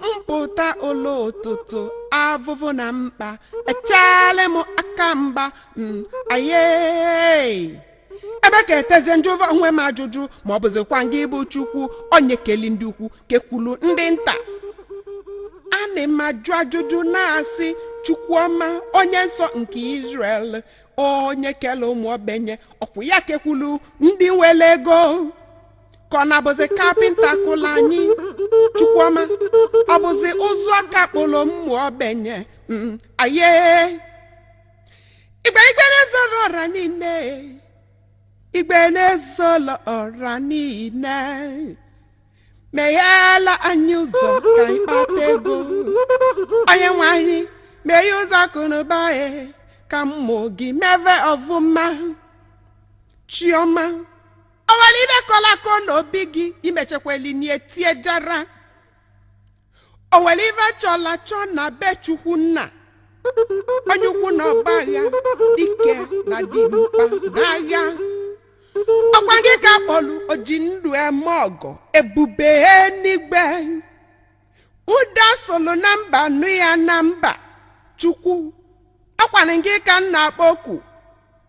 m pụta ụlọ ụtụtụ avụvụ na mkpa echeela m aka mgba mm, aye ebe ka eteze m jụva onwe m ajụjụ ma ọ bụzikwa ngị bụ chukwu onye keli ndị ukwu kekwulu ndị nta a na m ajụ ajụjụ na-asị chukwuọma onye nsọ nke Israel onye kele ụmụ ogbenye ọkwa ya kekwulu ndị nwere ego ka ọ na-abụzi kapịnta kụlụ anyị chukwuọma ọ bụzi ụzụ aka kpụrụ ụmụ ogbenye mm, aye igwe igwe na-ezoro ọra niile igwe na-ezoro ọra niile megheela anyị ụzọ ka anyị kpata ego onye nwe anyị meghe ụzọ akụnụba e ka ụmụ gị meve ọfụma chiọma o nwere ive kọla akọ na obi gị imechekweli nie tie jara o nwere ive chọla achọ na be chukwu nna onye ukwu na ọgbọ agha dike na dimkpa na agha ọkwa gị ka a kpọlụ oji ndụ eme ọgọ ebube enigwe ụda solo na mba nụ ya na mba chukwu ọkwanụ gị ka m na-akpọ oku